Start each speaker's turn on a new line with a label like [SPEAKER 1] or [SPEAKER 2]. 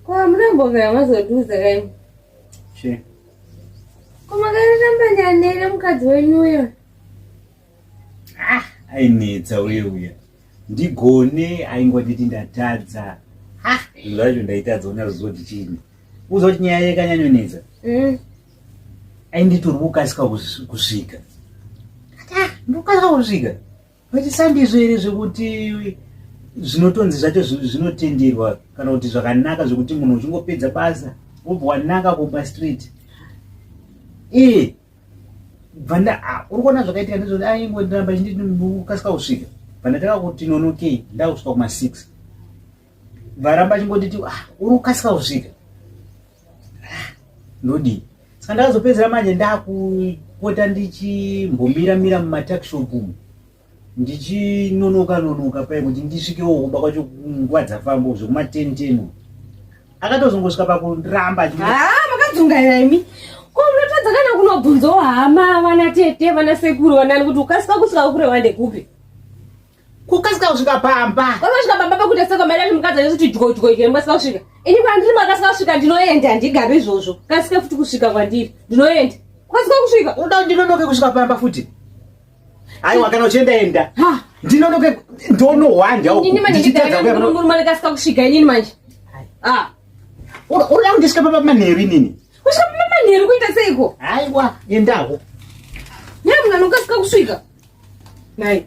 [SPEAKER 1] Kwamnambovera mazoduza kaini. She. Kumakaramba nyanere mukadzi wenyu uyo. Ah,
[SPEAKER 2] ainetsa uye uya. Ndigone aingonditi ndatadza. Ha, ah, zviro zvacho ndaitadza ona zvozoti chini. Uzoti nyaya yekanyanyonetsa. Mm. Ainditori kukasika kusvika. Ah, ndokasika kusvika. Vachisandizvo here zvekuti zvinotonzi zvacho zvinotenderwa kana kuti zvakanaka zvekuti munhu uchingopedza basa wobva wanaka kuba street e bvanda uri kuona zvakaitika ndizvoti aingondiramba chindikasika kusvika bvanda taka kuti nonokei ndakusvika kuma six varamba chingotiti ah, uri kukasika kusvika Nodi. Saka ndakazopedzera manje ndakupota ndichimbomira mira mumatakshop umu. Ndichinonoka nonoka paye kuti ndisvikewo kumba kwacho nguva dzafamba zvekuma 10 10. Akatozongosvika pakuramba achiti Ah, makadzungaira
[SPEAKER 1] imi. Ko munotadza kana kunobvunzawo hama vana tete vana sekuru vanani kuti ukasika kusvika kure wande kupi?
[SPEAKER 2] kukasika kusvika pamba kwanosvika pamba pakuita seko
[SPEAKER 1] mai dati mukadzi anesu tidyoidyo here mukasika kusvika ini kwandiri makasika kusvika ndinoenda handigari izvozvo kasike futi kusvika kwandiri ndinoenda kukasika kusvika unoda kuti ndinonoke kusvika
[SPEAKER 2] pamba futi aiwa kana uchienda enda ndinonoke ndonohwanda ukutadzakuyamurume
[SPEAKER 1] likasika kusvika inini manje
[SPEAKER 2] unoda kundisvika pamba manheru inini Kusvika kumba manheru
[SPEAKER 1] kuita seiko? Haiwa, endawo. Nyaya mwana ukasika kusvika. Nhai.